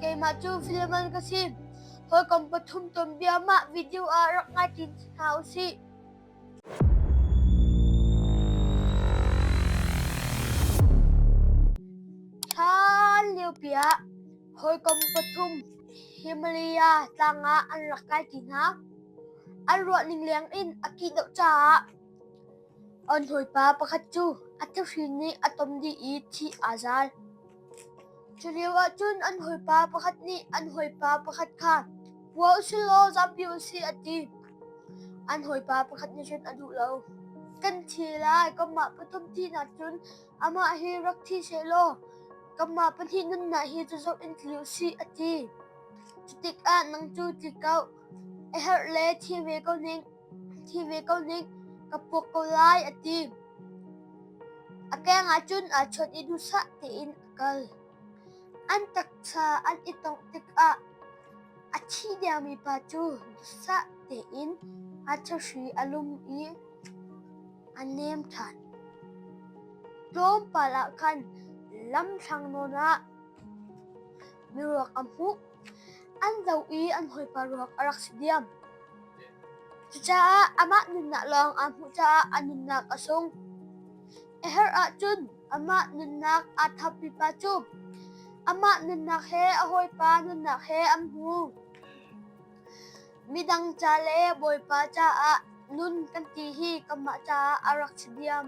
Keimah cu filman ka si. Hawikom pathum tuanbia mah video ah rak ngai ṭin hna u sih. Hlan liopi ah hawikom pathum Himalaya tlang ah an rak kai ṭi hna. An ruahning leng in a kih deuh caah An hawipa pakhat cu a thuhrin nih a tom dih i thih aa zal. Culioah cun an hawipa pakhat nih an hawipa pakhat kha hua u sih law zampi u sih a ti. An hawipa pakhat nih cun a duh lo. Kan thi lai, kanmah pathum thihnak cun amah hi rak thi seh law kanmah pahnih nunnak hi cu zoh in tli u sih a ti. Cutikah nang cu tlikauh a herh le thi ve ko ning. Thi ve ko ning, ka puak ko lai, a ti. A keng ahcun aa chawnh i duhsah tein a kal. An taksa an i tongh tikah a thi diammi pa cu duhsah tein a thahri a lum i a nem ṭhan. Tlawmpal ah khan lamthlang nawn ah mi ruak an hmuh. An zoh i an hawipa ruak a rak si diam. Cucaah amah nunnak lawng aa hmuh caah a nunnak a sung. A her ahcun amah nunnak aa thap pipa cu amah nunnak he a hawipa nunnak he an hmu. Midang ca le bawipa caah nun kan ti hi kanmah caah a rak si diam.